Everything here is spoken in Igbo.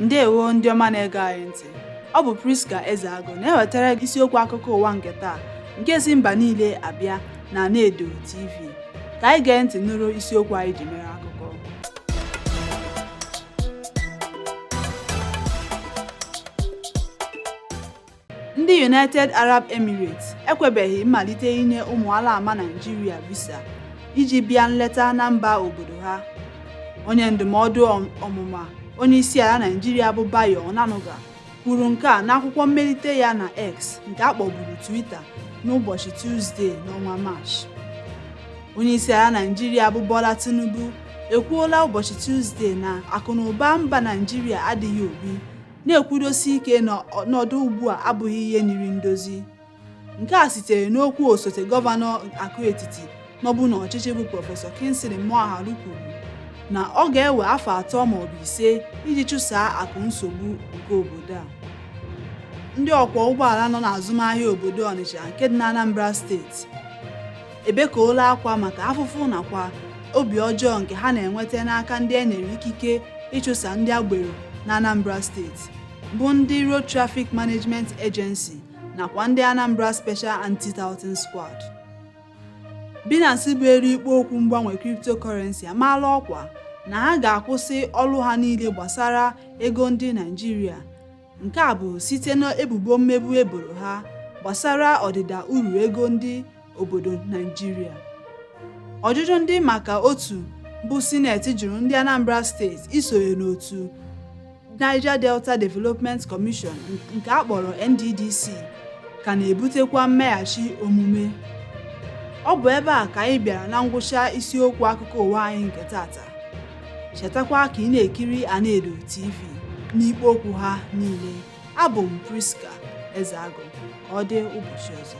ndewo ndị ọma na-ege anyị ntị ọ bụ Priska Ezeagụ na-ewetara gị isiokwu akụkọ ụwa nke taa nke si mba niile abịa na Anaedo TV ka anyị gee ntị nụrụ isiokwu anyị ji mere akụkọ Ndị United Arab Emirates ekwebeghị mmalite inye ụmụ alaama Naịjirịa visa iji bịa nleta na mba obodo ha. Onye ndụmọdụ ọmụma onyeisiala Naịjirịa bụ Bayo Onanuga kwuru nke a n'akwụkwọ mmelite ya na X nke a kpọburu Twitter n'ụbọchị Tuzdee n'ọnwa Maachị. Onyeisiala Naịjirịa bụ Bola Tinubu ekwuola ụbọchị Tuzdee na akụnaụba mba Naịjirịa adịghị obi na-ekwudosi ike na ọnọdụ ugbu a abụghị ihe nyiri ndozi nke a sitere n'okwu osote gọvanọ akụ etiti nọbu n'ọchịchị bụ prọfesọ Kingsley Moghalu kwuru na ọ ga-ewe afọ atọ maọbụ ise iji chụsaa akụ nsogbu nke obodo a ndị ọkwọ ụgbọala nọ n'azụmahịa obodo Ọnịcha nke dị n'Anambra steeti ebekọọla akwa maka afụfụ nakwa obi ọjọọ nke ha na-enweta n'aka ndị e nyere ikike ịchụsa ndị agbero na Anambra steeti bụ ndị Road Traffic Management Agency nakwa ndị Anambra Special Anti-Touting Squad. Binance bụ elu ikpo okwu mgbanwe cryptocurrency amaala ọkwa na ha ga-akwụsị ọrụ ha niile gbasara ego ndị Naijiria Nke a bụ site n'ebubo mmegbu e boro ha gbasara ọdịda uru ego ndị obodo Naijiria. Ọjụjụ ndị maka otu bụ sineti jụrụ ndị Anambra steeti isonye n'otu Niger Delta Development Commission nke a kpọrọ NDDC ka na-ebutekwa mmeghachi omume. Ọ bụ ebe a ka anyị bịara na ngwụcha isiokwu akụkọ ụwa anyị nke tata. chetakwa ka ị na-ekiri Anaedo TV n'ikpo okwu ha niile abụ m Priska Ezeagụ ka ọ dị ụbọchị ọzọ